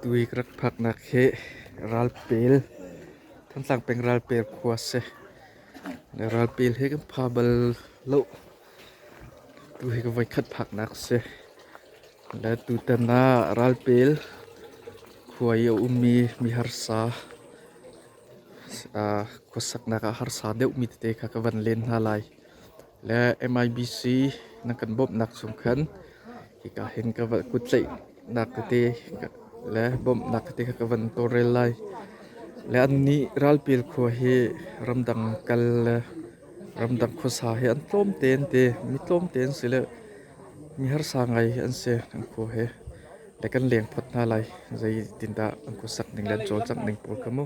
Tuik rak phaknak hi Ralpel, Thantlang peng Ralpel khua a si. Ralpel hi kan pha bal lo. Tu hi ka voikhat phaknak a si. Le tutan ah Ralpel khua i a ummi mi harsa, khuasaknak ah harsa deuhmi tete kha ka van len hna lai. le MIBC na kan bawmhnak chung khan hika hin ka va kut tlaihnak tete le bawmhnak tete ka van tawlrel lai le an nih ralpil khua hi ramdang kal le ramdang khuasa hi an tlawm tein te mi tlawm tein si le mi harsa ngai hi an se kan khua he le kan leng phot hna lai zei tin dah an khusak ning le an cawlcangh ning pawl ka mu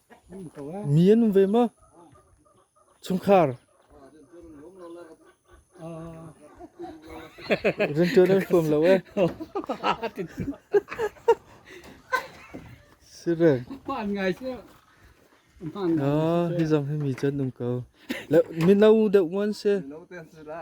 Mi an um ve maw? Chungkhar. Rianṭuan an huam lo e. Sireng. Paan ngai sih. Paan ngai. Ah, hi zong hi mi cu an um ko. Le, mino deuh ngon se. No te sira.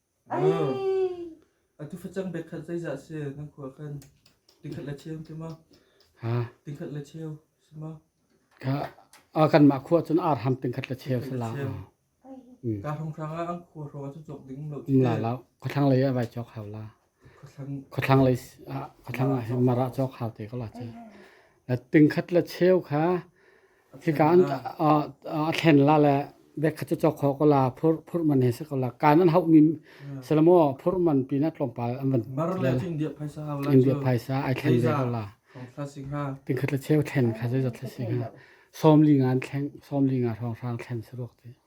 Ai. Atu facang bek khat zeizah si na khua khan tingkhat le cheu ti ma ha tingkhat le cheu si ma ka a kan ma khua chun ar ham tingkhat la cheu sala Ai. ka hong hrang a an khua ro chu chok ding lo chi la la khathang le ya vai chok hau la Khuathlang lei khuathlang ah hin Mara cu khar te ko la cu. Tingkhat le cheu kha hika an a thlen la le bekhat cu cawk ko la phurh man he se ko la kaan an hauh mi se la maw phurh man peanut tlawmpal an van India phaisa ai thlen ve ko la tingkhat le cheu thlen kha zeizat thlasing ha sawmli nga an thleng sawmli nga hrawng hrang thlen se ruak ti.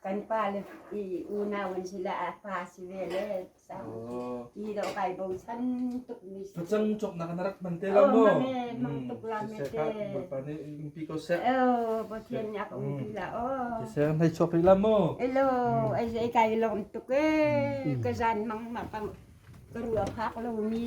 Kan pale i unau an si le a pa si ve le i ro kai bochan tukmi si. Facang cawknak na rak hman te lo maw? Mang tuk la me te. Bawipa nih umpi ko seh. Oh, Pathian nih a ka umpi la. Oh. Kiseh, hlei chawk rih la maw? Elo, ai zei kai lom tuk e. Ka zan mang ma ka ka rua phak lo mi.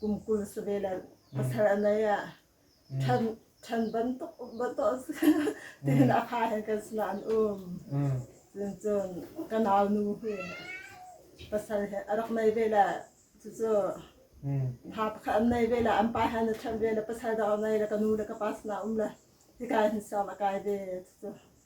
kum kul si ve la pasal a nei ah ṭhan ṭhan bantuk um bato tiin a ha hen kan slan um cun cun ka nau nu hi pasal he a rak nei ve la cucu ha pakhat an nei ve la an pa hen a ṭhan ve la pasal dang a nei la ka nu le ka pa sna um la hika hin sau a kai ve cucu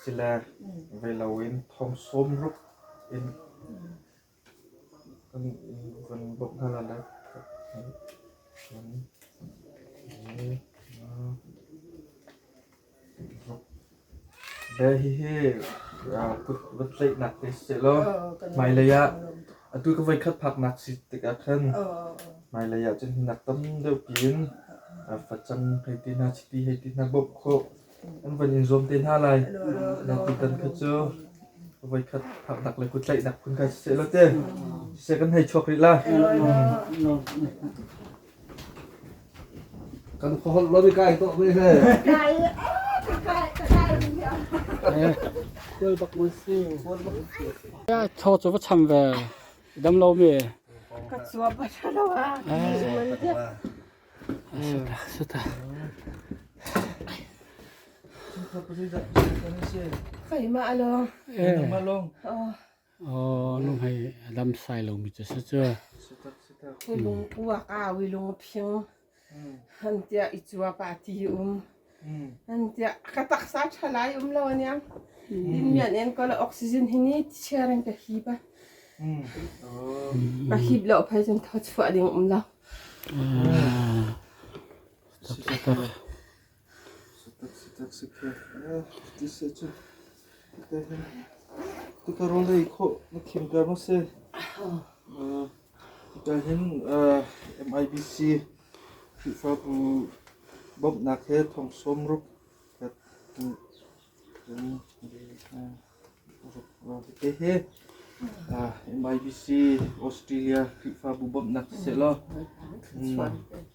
Siler ve loin thong sawm ruk in kan vun bawmh hna lai. Hihi va tlaihnak te sehlaw hmailei ah atu ka voikhat phaknak si tikah khan hmailei ah cun nak tam deuh piin facang hei ti hna, chiti hei ti hna bawmh khawh. an van in zuam te hna lai. Tutan kha cu voikhat phaknak le kuttlaihnak phun kha siseh law te siseh kan hei chuak rih lai. Kan khuaholh lo mi kai tuah ve he. Tho cu va cham ve. Dam lo mi. Ka cuap a ṭha lo ah. Keimah along. Oh, nu hai lam sai lo mi chu sa chu. Lung uak a wi lung phiang. Han tia i chua pa ti um. Tiah ka taksa ṭha lai um lo aniang. Dinmian en ko la oxygen hi ni sharing ka hip a. A hip lo phai cun tho chuah ding um lo. Tika role khô na khim kar ma se. Kan hin MIBC Khrihfa bu bawmhnak he thong sawm ruk kan te hi MIBC Australia Khrihfabu bawmhnak sehlaw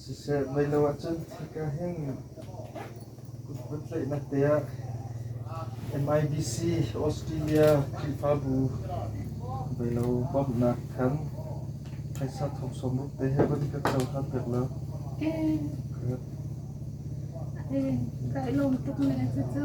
Siseh mei lo ahcun khika hin kut puntlaihnak te ah MIBC Australia Khrihfabu beilo bawmhnak khan phaisa thongsawm rup te he vun kan cohlan pek lo. Kai lawm tuk ne cucu.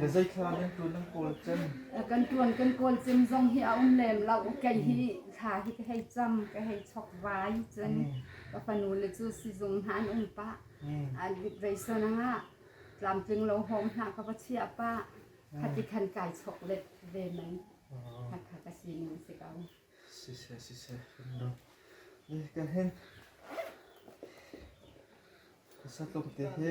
Na zeithla nan tuan nan kawl cem? Kan tuan kan kawl cem zong hi a um lem lo. Kei hi thla hi ka hei cam, ka hei chok vai cun ka fanu le cu sizung hna an um pah. A veisan angah tlamtling lo hawng hna ka va chia pah. Khati khan kai chok let ve mai. Hakha ka sining si ko. Siseh siseh no. Kan hen sa tlawmte hi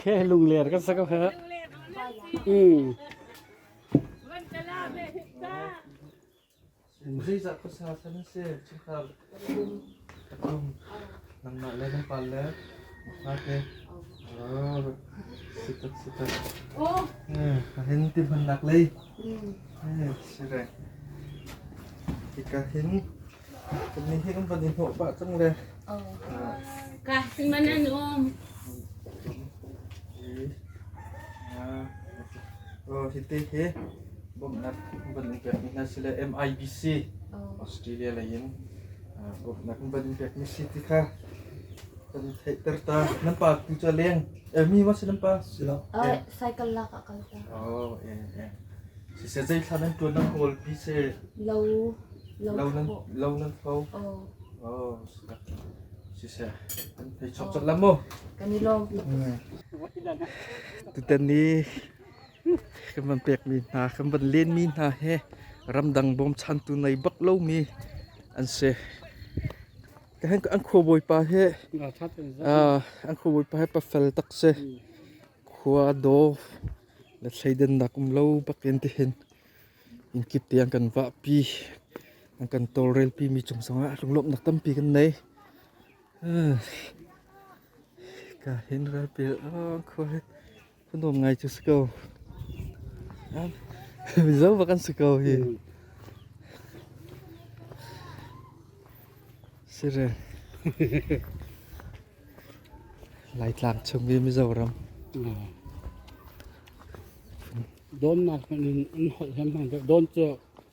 Khe lungler kan sa ko heh. Mm. Zeicah khuasa san a si? Chungkhar Nangmah le na pale ngaite sitak sitak hin tihmannak lei si le hika hin kannih hi kan van i hnawh pah cang le ka si man an um hi te hi bawmhnak van in pekmi hna sile MIBC Australia lei in bawmhnak van in pekmi si ti kha kan theihter ta. Nan pa tu cu leng eh mi ma si nan pa si lo. Oh, cycle lak ah kal ta. Oh eh eh. Si se zei thla nan tuan nan kawl pi se Lo lo lo nan thaw. lo nan tho. Oh, Oh sika. Si se an thei chop chop lam mo. kan i lawm. Tutan ni kan van pekmi hna, kan van lenmi hna he ramdang bawmchantu nei bak lomi an si. An khuabawipa he an khuabawipa he pafel tak se khua do le thleidannak um lo bakin ti hin in kip tiang kan va pi an kan tawlrel pi mi cung sangah lunglawmhnak tampi kan nei ka hin ral pil khua he Fanuam ngai cu si ko. Mizo bak an si ko hi. Sire. Laitlang chung i Mizoram. Dawnnak in an holh hem han. Dawn cu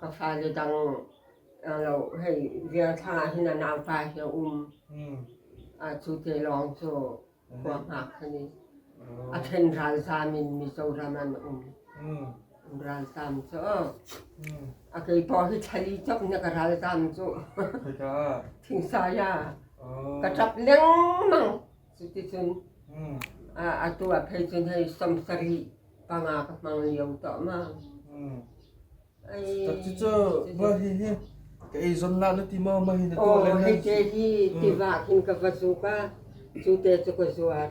Ka fale dang a lo hei vial thlang ah hin a nauta hi a um. Cu te lawng cu khua hngak han i a ṭhen ralzam in Mizo ram an um. Ralzam cu a kei pawh hi thlali cop na ka ralzam cu. Thingsa ya ka ṭap lengmang. Cuticun atu ah phei cun hei somsari panga ka hmang lio tawhmang. Cucu va hi hi ka ei zon la na ti ma ma hi na tu le na. Hei te hi tiva in ka va zuk a, cu te cu ka zuar.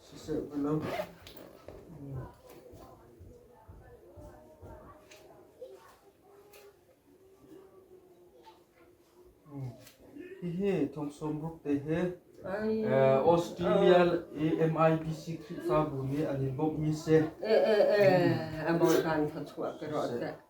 siseh ti lo. Hihi thongsawm ruk te he Australia i MIBC Khrihfabu nih an i bawmhmi si. E e e a mawi kan thawchuah ke ro te.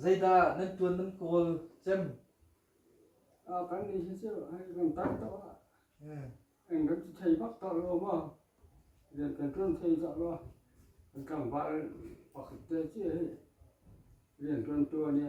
Zeidah nan ṭuan nan kawl cem? Kan nih hi cu kan tar to ah kan cu thei bak tar lo maw? Rian kan ṭuan thei cah lo. Kan tlangval pakhat te ci hi rian ṭuan ṭuan i